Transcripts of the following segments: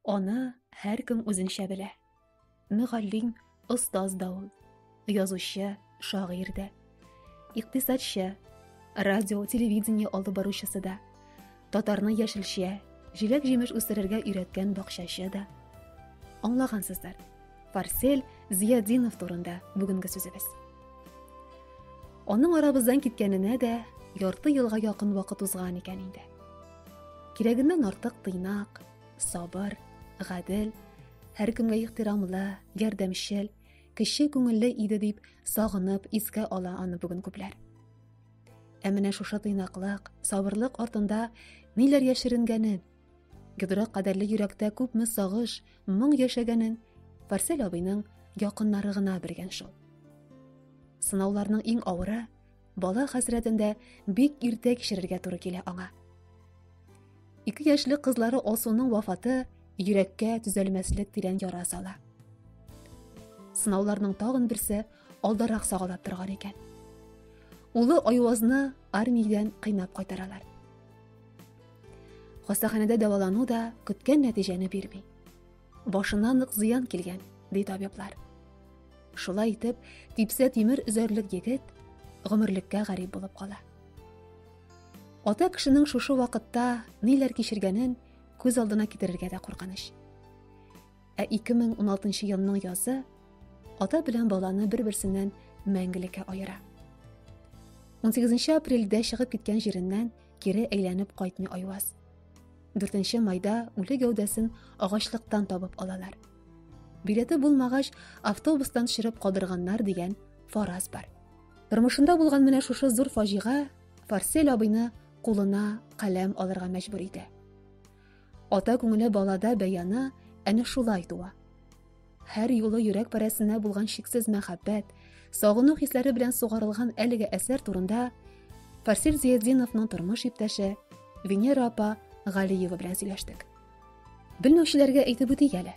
Аны һәркем үзенчә белә. Мөгаллим, остаз да ул. Язучы, шагыйрь дә. Икътисадчы, радио, телевидение алып баручысы да. Татарны яшелчә, җиләк-җимеш үстерергә өйрәткән бакчачы да. Аңлагансыздар. Фарсель Зиядинов турында бүгенге сүзебез. Аның арабыздан киткәненә дә ярты елга якын вакыт узган икән инде. Кирәгеннән артык тыйнак, сабыр, гадел, һәркемгә ихтирамлы, ярдәмчел, кеше күңелле иде дип сагынып искә ала аны бүген күпләр. Ә менә шушы тыйнаклык, сабырлык артында ниләр яшеренгәнен, Гидрак кадәрле йөрәктә күпме сагыш, моң яшәгәнен Фарсель абыйның якыннары гына белгән шул. Сынауларның иң авыры Бала хәсрәтендә бик иртә кичерергә туры килә аңа. Ике яшьлек кызлары Алсуның вафаты йөрәккә төзәлмәслек тирән яра сала. Сынауларның тагын берсе алдарак сагалап торган икән. Улы Айвазны армиядән кыйнап кайтаралар. Хастаханәдә дәвалану да көткән нәтиҗәне бирми. Башына нык зыян килгән, ди табиблар. Шулай итеп, типсә тимер өзәрлек егет гомерлеккә гарип булып кала. Ата кешенең шушы вакытта ниләр кичергәнен күз алдына китерергә дә куркыныч. Ә 2016 елның язы ата белән баланы бер-берсеннән мәңгелеккә аера. 18 апрельдә чыгып киткән җиреннән кире әйләнеп кайтмый Айваз. 4 майда үле гәүдәсен агачлыктан табып алалар. Билеты булмагач, автобустан шырып калдырганнар дигән фараз бар. Тормышында булган менә шушы зур фаҗига Фарсель абыйны кулына каләм алырга мәҗбүр итә. Ата күңеле балада бәяны әнә шулай туа. Һәр юлы йөрәк парәсенә булган шиксез мәхәббәт, сагыну хисләре белән сугарылган әлеге әсәр турында Фарсил Зиятдиновның тормыш иптәше Венера апа Галиева белән сөйләштек. Белмәүчеләргә әйтеп үтик әле.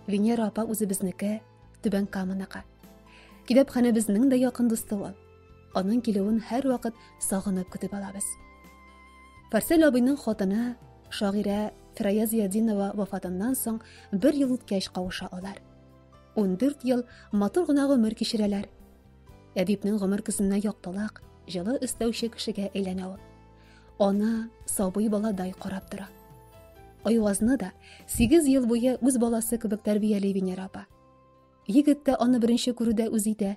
Венера апа үзебезнеке, Түбән Каманыкы. Китапханәбезнең дә якын дусты ул. Аның килүен һәр вакыт сагынып көтеп алабыз. Фарсил абыйның хатыны шагыйрә Фирая Зиядинова вафатыннан соң бер ел үткәч кавыша алар. Ундүрт ел матур гына гомер кичерәләр. Әдипнең гомер көзенә яктылык, җылы өстәүче кешегә әйләнә ул. Ана сабый баладай карап тора. Айвазны да 8 ел буе үз баласы кебек тәрбияли Венера апа. Егет тә аны беренче күрүдә үз итә.